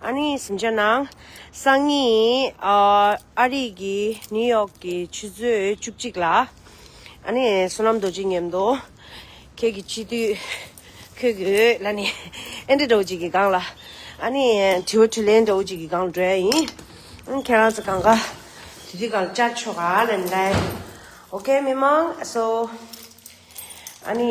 ཨ་ནི་ཟིན་ཆ་ནང་སང་ཉིན་ཨ་རིག་གི་ནིའུ་ཡོག་གི་ཆུ་ཚོད་བཅུ་གཅིག་ལ་ཨ་ནི་བསོད་ནམས་རྡོ་རྗེ་ཉེར་མདོ་ཁྱེད་ཀྱི་སྤྱི་འཐུས་ཁོས་གི་ཨོས་ལ་ནི་ཨེན་ཏི་རོ་གཅིག་གི་སྒང་ལ་ཨ་ནི་དྲི་བ་དྲི་ལན་རོ་གཅིག་གི་སྒང་ལ་འགྲོའི་ཡིན་ཨ་ཁྱེད་རང་ཚོ་གང་ག་དུས་དུས་གང་ལ་བཅར་ཆོག་ག་ལ་ནི་ལ་ཨོ་ཁེ་མི་མང་ཨ་སོ་ཨ་ནི།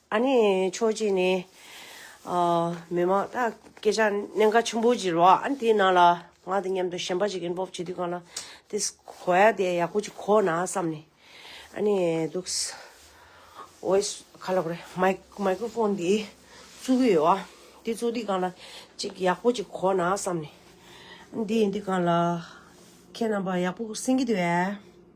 ཨ་ནི་ཆོས་རྗེ་ནི། མི་མ། སྐད་ཆ་གནད་འགག་ཆེན་པོ་ཅིག་རོགས་ཨ་ནི་དེའི་ནང་ལ་ང་དང་མཉམ་དུ་གཞན་པ་ཅིག་གིན་སྤོབས་བྱེད་དུས་གང་ལ་དེ་གོ་ཡ་དེ་ཡག་པོ་ཅིག་གོ་ན་བསམ་ནས་ཨ་ནི་འདུག། voice ག་ལ་གོ་རེད Microphone དེ་བཙུགས་གི་ཡོད་ཨ། དེ་བཙུགས་དུས་གང་ལ་ཅིག་ཡག་པོ་ཅིག་གོ་ན་བསམ་ནས། ཨ་ནི་དེ་ཡིན་དུས་གང་ལ་ཁྱེད་རྣམ་པ་ཡག་པོ་གསན་གི་འདུག་ཨ།